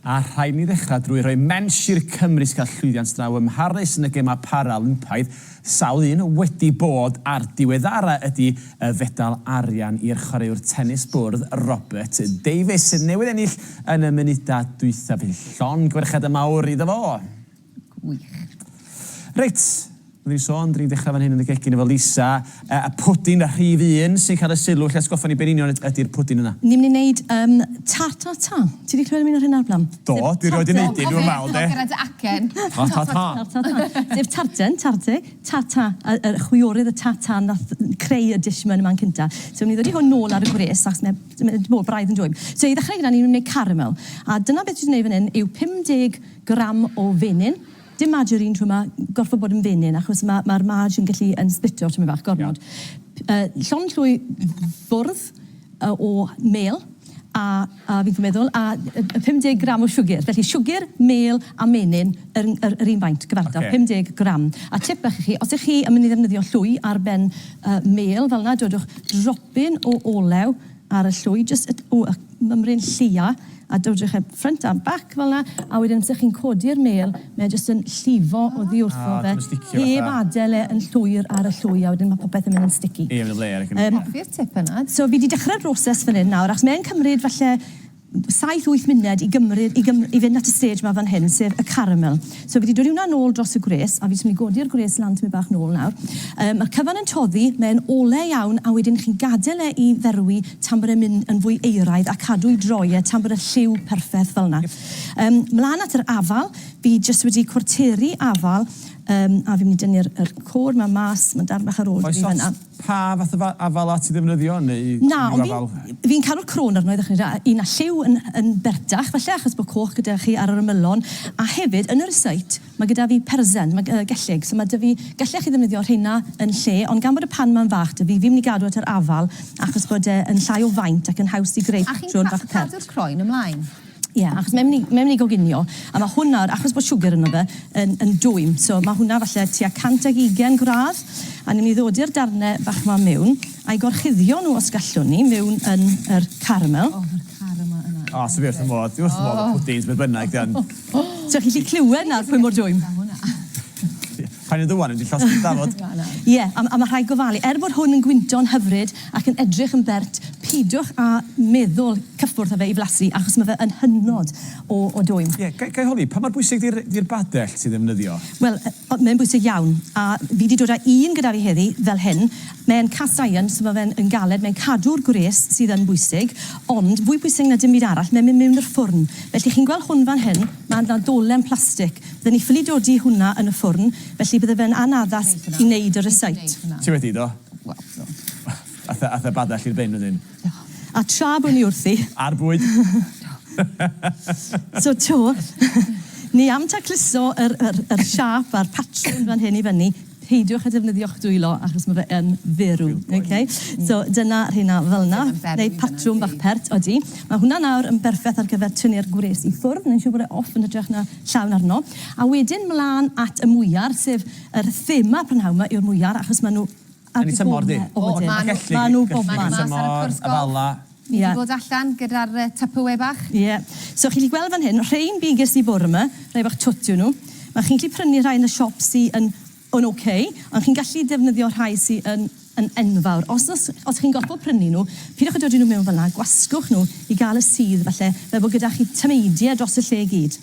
A rhaid i ni ddechrau drwy roi mensh i'r Cymry sy'n cael llwyddiant draw ym Mharis yn y Gemau Paralympaidd, sawl un wedi bod a'r diweddara' ydi y fedal arian i'r chwaraewr tenis bwrdd Robert Davies, sydd newydd ennill yn y munudau dwytha, felly llongyfarchiadau mawr iddo fo! Gwych. Reit, fel dwi'n sôn, dw i'n dechrau fan hyn yn y gegin efo Lisa. Yy, y pwdin, y rhif un, sy'n cael y sylw. Lle atgoffa ni be yn union yd- ydi'r pwdin yna? Ni'n mynd i wneud yym tartata. Ti 'di clywed am un o'r rheina o'r blaen? Do, dwi 'rioed 'di neud un, dwi'm yn meddwl, 'de. Cofiwch nôl gyda dy acen. Ta ta ta. Tartata. Sef tarten, tarte, tata, y y chwiorydd, y tata nath creu y dish 'ma yn y man cynta. So newn ni ddodi hwn nôl ar y gwres achos mae mae 'di bod braidd yn dwym. So i ddechrau gyda ni myn' i neud caramel. A dyna beth dwi 'di neud fan 'yn yw 50 gram o fenyn. Dim margarine t'mo' ma' gorffo bod yn fenyn achos ma' ma'r marg yn gallu yn splitio tymed bach gormod. P- yy llond llwy fwrdd yy o mêl a a fi'n meddwl a yy yy 50 gram o siwgyr. Felly siwgyr, mêl a menyn yr n- yr yr un faint gyfartal. Ocê. 50 gram. A tip bach i chi, os 'ych chi yn myn' i ddefnyddio llwy ar ben yy mêl fel 'na dodwch dropyn o olew ar y llwy jyst y o y mymryn lleia a dod drwch e front and back fel 'na a wedyn amser chi'n codi'r mêl mae e jyst yn llifo oddi wrtho fe heb adel e yn llwyr ar y llwy a wedyn ma' popeth yn mynd yn sticky. Ie ma' 'na flêr ac yn... Yym. Hoffi'r tip yna. So fi 'di dechre'r broses fan 'yn nawr achos mae e'n cymryd falle saith wyth muned i gymryd i gym- i fynd at y stage 'ma fan hyn, sef y caramel. So fi 'di dwli hwnna nôl dros y gwres, a fi jyst myn' i godi'r gwres lan tymed bach nôl nawr. Yy ma'r cyfan yn toddi, mae'n ole iawn, a wedyn chi'n gadel e i ferwi tan bod e'n myn' yn fwy euraidd a cadw i droi e tan bod y lliw perffeth fel 'na. Yym mlan at yr afal, fi jyst wedi cwarteru afal, yym a fi myn' i dynnu'r yr côr 'ma mas, ma'n darn bach ar ôl 'da fi fan 'na. Pa fath o afal at i ddefnyddio neu Na, unrhyw ond afal? fi'n, fi'n caru'r crôn arno i ddechrau da, a un â lliw yn yn berdach falle achos bod coch gyda chi ar yr ymylon, a hefyd yn y recipe mae gyda fi persen, mae yy gellyg, so mae 'da fi, gallech chi ddefnyddio rheina yn lle, ond gan bod y pan 'ma'n fach 'da fi, fi'n mynd i gadw at yr afal achos bod e yn llai o faint ac yn haws i greu patrwn bach pert. A chi'n ca- cadw'r croen ymlaen? Ie, achos mae'n mynd i, mae'n mynd i goginio, a ma' hwn nawr, achos bod siwgr ynddo fe, yn, yn dwym. So, ma' hwnna falle tua 120 gradd, a ni'n mynd i ddodi yr darne bach ma miwn, a'i gorchuddio nhw os gallwn ni, miwn yn yr caramel. O, ma'r caramel yna. O, so fi wrth fy modd, dwi wrth fy modd efo pwdins, beth bynnag, dio'n... So chi'n gallu clywed nawr pwy mor dwym? Paid a dwad, rydw i'n llosgi dy dafod. Ie, a mae rhaid gofalu. Er bod hwn yn gwynto'n hyfryd ac yn edrych yn bert, peidiwch â meddwl cyffwrdd â fe i flasu achos mae fe yn hynod o dwym. Ie, ga i holi, pa mor bwysig di'r badell ti'n ddefnyddio? Wel, mae'n bwysig iawn, a fi 'di dod â un gyda fi heddi, fel hyn. Mae'n cast iron, so mae fe'n galed, mae'n cadw'r gwres sydd yn bwysig, ond fwy pwysig na dim byd arall, mae'n mynd mewn i'r ffwrn. Felly, chi'n gweld hwn fan hyn, mae yna ddolen plastig. Bydden ni ffili dodi hwnna yn y ffwrn, felly bydde fe'n anaddas i wneud y rysáit. Ti wedi, do? Aeth y badell i'r bin wedyn. A tra bo ni wrthi. A'r bwyd. So to, ni am tacluso yr siâp a'r patrwn fan hyn i fyny. Peidiwch â defnyddio'ch dwylo achos ma' fe yn ferw. Ok? So dyna rheina fel 'na. Neu patrwm bach pert. Odi. Ma' hwnna nawr yn berffeth ar gyfer tynnu'r gwres i ffwrdd. Neu' siŵr bod e off yn hytrach na llawn arno. A wedyn mlan at y mwyar sef yr thema prynhawn 'ma yw'r mwyar achos ma' nw ar dy' Gome. Yn y tymor di. O ma' nw. Ac elli di. Ma' nw bobman. Yn y tymor y Bala. Ni wedi bod allan gyda'r Tupperware bach. Ie. So chi'n gallu gweld fan hyn, rhein fi ges i bore 'ma, rhai bach twt yw nhw. Ma' chi'n gallu prynu rhai yn y siop sy yn yn ok, ond chi'n gallu defnyddio rhai sy yn yn enfawr. Os os os chi'n gorfod prynu nhw, peidiwch â dod â nhw mewn fel 'na, gwasgwch nhw i gael y sudd falle, fel bod gyda chi tameidiau dros y lle i gyd.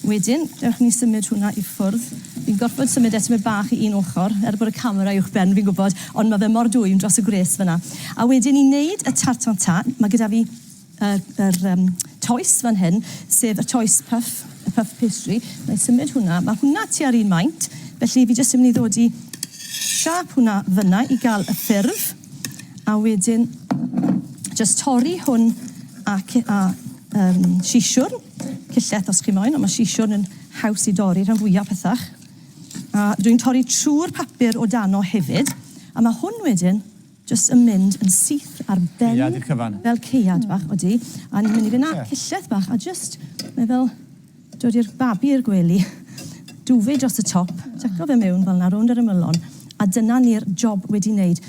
Wedyn, dewch i ni symud hwnna i ffwrdd. Fi'n gorfod symud e tymed bach i un ochr, er bod y camera uwchben, fi'n gwybod, ond ma' fe mor dwym dros y gwres fan'na. A wedyn i neud y tart tatin, ma' gyda fi y yr yym toes fan hyn, sef y toes puff, y puff pastry. Wna i symud hwnna, ma' hwnna tua'r un maint, felly fi jyst yn mynd i ddod i siâp hwnna fan'na i ga'l y ffurf, a wedyn jyst torri hwn a ce- a yym siswrn. Cyllell os chi moyn, ond mae siswrn yn haws i dorri rhan fwyaf pethach. A dwi'n torri trwy'r papur o dano hefyd, a mae hwn wedyn jyst yn mynd yn syth ar ben... Ceuad i'r cyfan. ...fel ceuad bach, odi. A ni'n mynd i fynd â cyllell bach a jyst, mae fel dod i'r babi i'r gwely. Duvet dros y top, tseco fe mewn fel 'na rownd yr ymylon, a dyna ni'r job wedi wneud.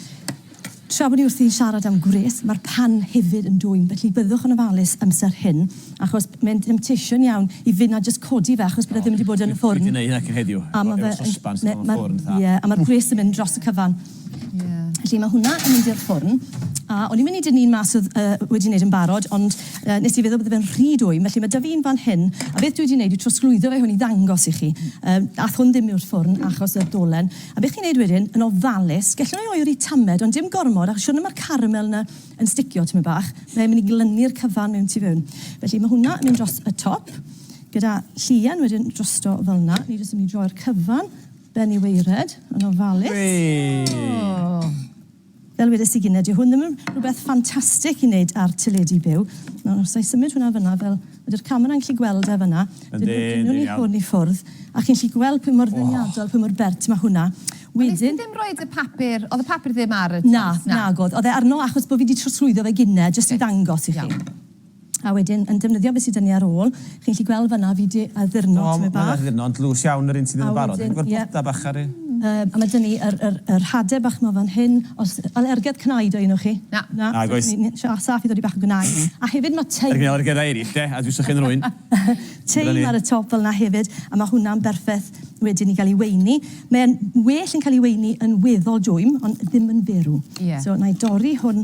Tra bod ni wrthi'n siarad am gwres, mae'r pan hefyd yn dwym, felly byddwch yn ofalus amser hyn, achos mae'n temptation iawn i fynd a jyst codi fe, achos bod e ddim wedi bod yn y ffwrn. Dwi 'di neud hynna cyn heddiw, efo sosban sydd mewn ffwrn, fatha. Ie, a mae'r gwres yn mynd dros y cyfan. Felly mae hwnna yn mynd i'r ffwrn, a o'n i'n mynd i dynnu un mas oedd wedi neud yn barod, ond nes i feddwl bydde fe'n rhy dwym, felly mae 'da fi un fan hyn, a beth dwi 'di neud yw trosglwyddo fe hwn i ddangos i chi. Aeth hwn ddim i'r ffwrn achos y dolen. A be chi'n neud wedyn, yn ofalus, gellwn i oeri tamed, ond dim gormod, achos siwrne ma'r caramel 'na yn sticio tymed bach, mae e'n mynd i glynu'r cyfan mewn tu fewn. Felly ma' hwnna yn mynd dros y top, gyda llian wedyn drosto fel 'na. Ni jyst yn mynd i droi'r cyfan ben i waered, yn ofalus. Wee! O! Fel wedes i gynne, dyw hwn ddim yn rhywbeth ffantastig i wneud ar teledu byw. Nawr, os wna i symud hwnna fanna, fel ydy'r camera'n gallu gweld e fanna, dynnu ni hwn i ffwrdd, a chi'n gallu gweld pwy mor ddeniadol, pwy mor bert mae hwnna. Wedyn... Wnes di ddim rhoi y papur, oedd y papur ddim ar y top? Na, nag oedd. Oedd e arno achos bod fi 'di trosglwyddo fe gynne, jyst i ddangos i chi. Iawn. A wedyn yn defnyddio be sy 'da ni ar ôl, chi'n gallu gweld fan'na fi 'di addurno tipyn bach. O, mae'n addurno, ond dlws iawn yr un sydd yn barod. Fi'n gweld bloda bach ar ei... A mae 'da ni yr hade bach 'ma fan hyn. Oes alergedd cnau 'da un o chi? Na. Na? Nag oes. Saff i ddodi bach o gnau. A hefyd mae tei. Yr un alergeddau eraill de, a dwi'n sychu yn rwyn. Tei ar y top fel 'na hefyd, a mae hwnna'n berffeth wedyn i gael ei weini. Mae'n well yn cael ei weini yn weddol dwym, ond ddim yn ferw. Ie. So, wna i dorri hwn.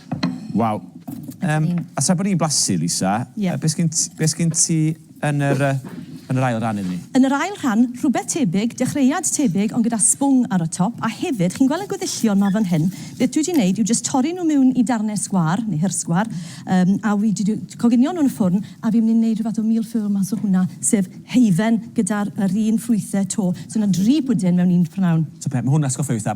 Waw. Yym, a tra bod ni'n blasu, Lisa... Ie. ...be sgen t- be sgen ti yn yr yy yn yr ail ran iddyn ni? Yn yr ail rhan, rhywbeth tebyg, dechreuad tebyg ond gyda sbwng ar y top, a hefyd, chi'n gweld y gweddillion 'ma fan hyn, beth dwi 'di neud yw jyst torri nhw miwn i darne sgwâr, neu hirsgwâr, yym, a wi 'di d- coginio nhw yn y ffwrn, a fi'n mynd i neud rhyw fath o mil-ffur mas o hwnna, sef heifen gyda'r yr un ffrwythe 'to. So 'na dri pwdin mewn un p'nawn. So be, ma' hwn atgoffa fi fatha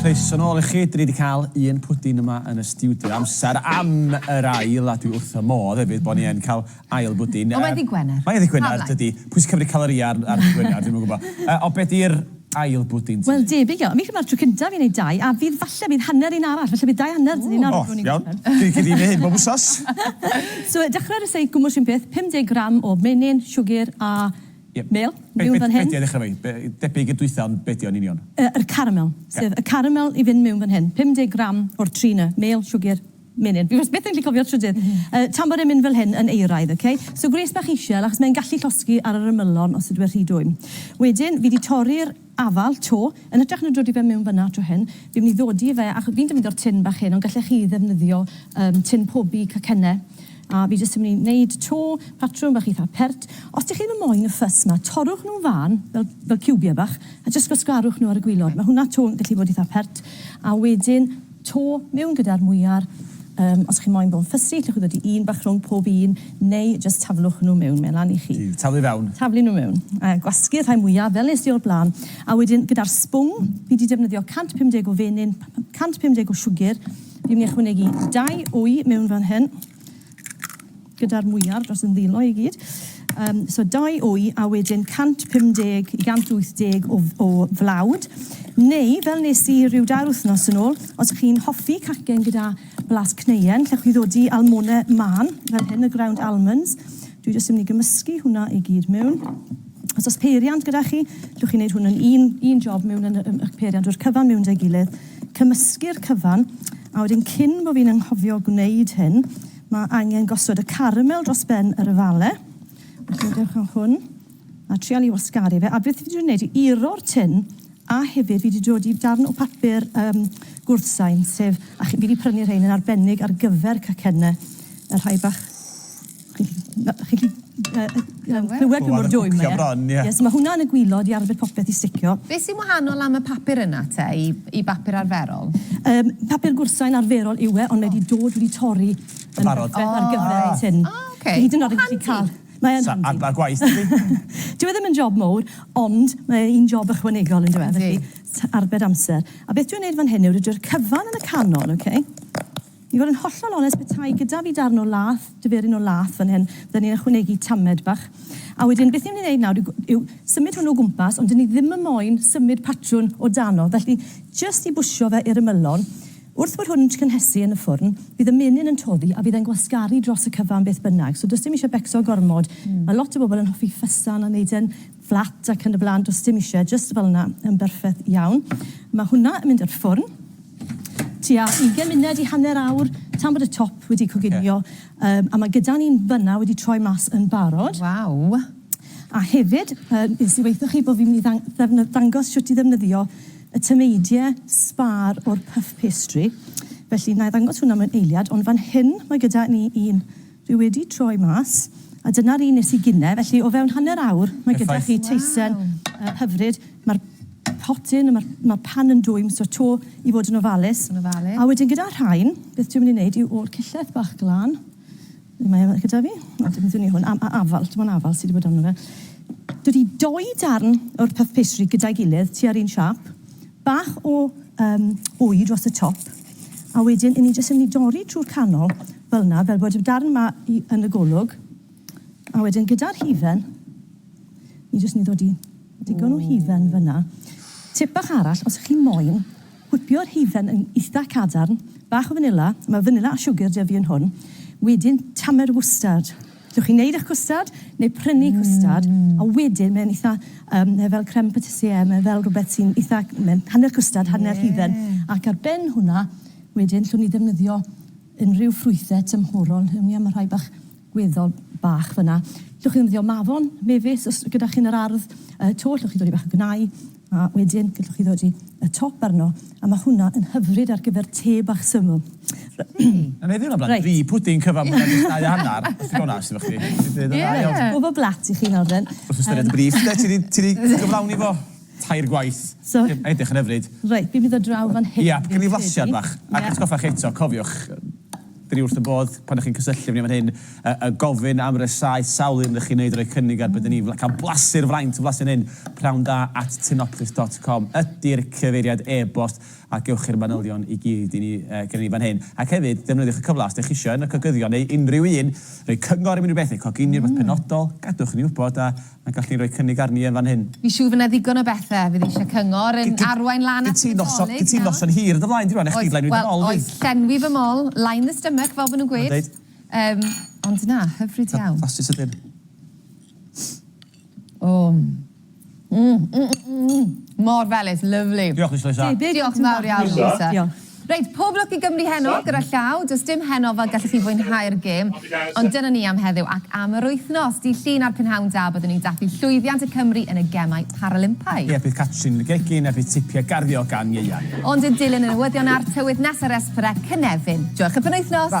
Croeso nôl i chi, 'dyn ni 'di cael un pwdin yma yn y stiwdio amser am yr ail a dwi wrth fy modd hefyd bo' ni yn cael ail bwdin. Ond mae'n ddi' Gwener. Mae'n ddi' Gwener, dydi. Pwy sy'n cymryd calorïa ar ddi' Gwener, dwi'm yn gwybod. Ond be' 'di'r... Ail bwdin ti. Wel debyg iawn. Mi dyma'r tro cyntaf i neud dau a fydd falle bydd hanner un arall falle bydd dau hanner dyn ni'n arw rhw'n ni'n gorffen. O iawn. Gei di neud hyn bob wsos. So dechrau ar y seith gwmws run peth 50 gram o menyn, siwgr a mêl miwn fan hyn. Be 'di a ddechrau efo hi? Debyg i'r dwytha ond be 'di o yn union? Yr caramel. Sef y caramel i fynd miwn fan hyn. 50 gram o'r tri 'na, mêl, siwgr, Menyn. Fi wastad byth yn gallu cofio'r trydydd. Yy tan bod e'n mynd fel hyn yn euraidd, ok? So gwres bach isel achos mae'n gallu llosgi ar yr ymylon os ydyw e rhy dwym. Wedyn fi 'di torri'r afal 'to, yn hytrach na dodi fe mewn fan'na tro hyn, fi'n mynd i ddodi fe acho- fi'n defnyddio'r tin bach hyn ond gallech chi ddefnyddio yym tin pobi cacenne a fi jyst yn mynd i neud 'to patrwm bach eitha pert. Os dych chi ddim yn moyn y fuss 'ma, torrwch nhw'n fân fel fel ciwbiau bach a jyst gwasgarwch nhw ar y gwilod. Mae hwnna 'to yn gallu bod eitha pert a wedyn to mewn gyda'r mwyar. Yym, os chi moyn bod yn fussy, llwch chi ddod i un bach rhwng pob un, neu jyst taflwch nhw mewn, mae lan i chi. Ti, taflu fewn. Taflu nhw mewn. A gwasgu'r rhai mwyaf, fel nes di o'r blaen. A wedyn, gyda'r sbwng, fi di defnyddio 150 o fenyn, 150 o siwgr, fi myn' i ychwanegu dau wy mewn fan hyn. gyda'r mwyar dros yn ddilo i gyd. Um, so 2 wy a wedyn 150 i 180 o, o flawd. Neu, fel nes i rhyw dair wythnos yn ôl, os ych chi'n hoffi cacen gyda blas cneuen, lle chi ddod i almone man, fel hyn, y ground almonds. Dwi jyst yn mynd i gymysgu hwnna i gyd mewn. Os oes peiriant gyda chi, llwch chi'n gwneud hwn yn un, un job mewn yn y, y peiriant o'r cyfan mewn dau gilydd. Cymysgu'r cyfan, a wedyn cyn bo fi'n anghofio gwneud hyn, ma' angen gosod y caramel dros ben yr yfale. Felly dewch â hwn a trial i wasgaru fe. A beth fi wedi gwneud i uro'r tin, a hefyd fi wedi dod i darn o papur um, gwrthsain, sef, a fi wedi prynu rhain yn arbennig ar gyfer cacenne, y rhai bach So ma' hwnna yn y gwilod i arbed popeth i sticio. Be' sy'n wahanol am y papur yna te i i bapur arferol? Yym papur gwrtsain arferol yw e ond mae 'di dod wedi torri yn barod ar gyfer y tun. O oce. Hyd yn o'd yn gallu ca'l... Mae yn handi. Sa agor gwaith ydi? Dyw e ddim yn job mowr ond mae un job ychwanegol on'd yw e? Yndi. Felly t- arbed amser. A beth dwi'n neud fan hyn yw roid yr cyfan yn y canol oce? I fod yn hollol onest, petai gyda fi darn o lath, diferyn o lath fan hyn, fydden ni'n ychwanegu tamed bach. A wedyn, beth ni'n mynd i wneud nawr yw, yw symud hwn o gwmpas, ond 'dyn ni ddim yn moyn symud patrwn o dano, felly jyst i bwsio fe i'r ymylon. Wrth bod hwn yn cynhesu yn y ffwrn, bydd y menyn yn toddi a bydd e'n gwasgaru dros y cyfan beth bynnag. So does dim isie becso gormod. Mae lot o bobl yn hoffi ffysan a wneud e'n fflat ac yn y blaen, does dim eisiau, jyst fel yna, yn berffeth iawn. Mae hwnna yn mynd i'r ffwrn tua 20 munud i hanner awr tan bod y top wedi coginio. Okay. Um, a mae gyda ni'n fyna wedi troi mas yn barod. Waw! A hefyd, um, nes i weithio chi bod fi'n mynd i ddangos siwt i ddefnyddio y tymeidie sbar o'r puff pastry. Felly, na i ddangos hwnna mewn eiliad, ond fan hyn mae gyda ni un Fi wedi troi mas, a dyna'r un nes i gine, felly o fewn hanner awr mae gyda chi teisen hyfryd. Mae'r potyn, mae'r mae'r pan yn dwym, so to i fod yn ofalus. Yn ofalus. A wedyn gyda'r rhain, beth dwi'n mynd i wneud yw o'r cillell bach glân, ble mae e gyda fi? O, dim dwn i hwn, am- a- afal, dim ond afal sy' 'di bod arno fe. Dod i doi darn o'r puff pastry gyda'i gilydd, tua'r un siâp, Bach o yym wy dros y top a wedyn 'yn ni jyst yn mynd i dorri trwy'r canol fel 'na fel bod y darn 'ma i yn y golwg a wedyn gyda'r hufen ni jyst yn mynd i ddod i digon o hufen fel 'na. Tip bach arall os 'ych chi moyn gwipio'r hufen yn itha cadarn, bach o fanila, ma' fanila a siwgr 'da fi yn hwn, wedyn tamed o fwstard. Gewch chi wneud eich cwstard, neu prynu cwstard, a wedyn mae'n eitha, yym, mae fel crème patissière, mae fel rhywbeth sy'n eitha, mae'n hanner cwstard, hanner hufen, ac ar ben hwnna, wedyn, llwn ni ddefnyddio unrhyw ffrwythau tymhorol, hewn ni a ma' rhai bach gweddol bach fan'na. Llwch chi ddefnyddio mafon, mefus, os gyda chi yn yr ardd, yy, to, llwch chi dodi bach o gnau, A wedyn gallwch chi ddodi y top arno, a ma' hwnna yn hyfryd ar gyfer te bach syml. Reit. O'n i 'di meddwl amdan dri pwdin cyfan mwy na jyst dau a hannar, os dwi'n onast efo chdi. Dwi 'di deud y ddau ond... Ie. Gwbo blat i chi nawr then. Wrth ystyried y briff 'de, ti 'di ti 'di cyflawni fo tair gwaith. So... Mae'n edrych yn hyfryd. Reit, fi'n mynd â draw fan hyn. Iep, gwn i flasiad bach. Ac atgoffa chi eto, cofiwch, Dyn ni wrth y bodd pan dych chi'n cysylltu efo ni fan hyn a gofyn am rysáu sawl un rydych chi'n wneud a rhoi cynnig ar be dyn ni'n cael blasu'r fraint yn flasu fan hyn, pnawn da at tinoplis dot com ydy'r cyfeiriad e-bost a gewch chi'r manylion i gyd i ni gyda ni fan hyn. Ac hefyd, defnyddiwch y cyfle os dych chi eisiau un o'r cogyddion neu unrhyw un roi cyngor am unrhyw beth neu coginio rhywbeth penodol, gadwch i ni wybod a A gall di roi cynnig arni yn fan hyn. Fi siŵr fy na ddigon o bethe fydd eisiau cyngor yn arwain lan at y Nadolig, na? Gin ti noson hir yn dy flaen di rwan, wnech chdi lenwi dy mol di. Wel, oes, llenwi fy mol, line the stomach fel ma nhw'n gweud. Yndwyt. Ond na, hyfryd iawn. Fastest ydyn. O! Mor felys, lyfli. Diolch Mister Lloyd Siân. Diolch yn fawr iawn Lisa. Diolch. Reit, pob lwc i Gymru heno gyda llaw. Does dim heno fel gallwch chi fwynhau'r gêm. Ond dyna ni am heddiw ac am yr wythnos. Dydd Llun a'r prynhawn da byddwn ni'n dathlu llwyddiant y Cymry yn y Gemau Paralympaidd. Ie, bydd Catrin yn y gegin a bydd tipiau garddio gan Ieuan. Ond yn dilyn y newyddion a'r tywydd nes ar Esperec, Cynefin. Joewch y penwythnos!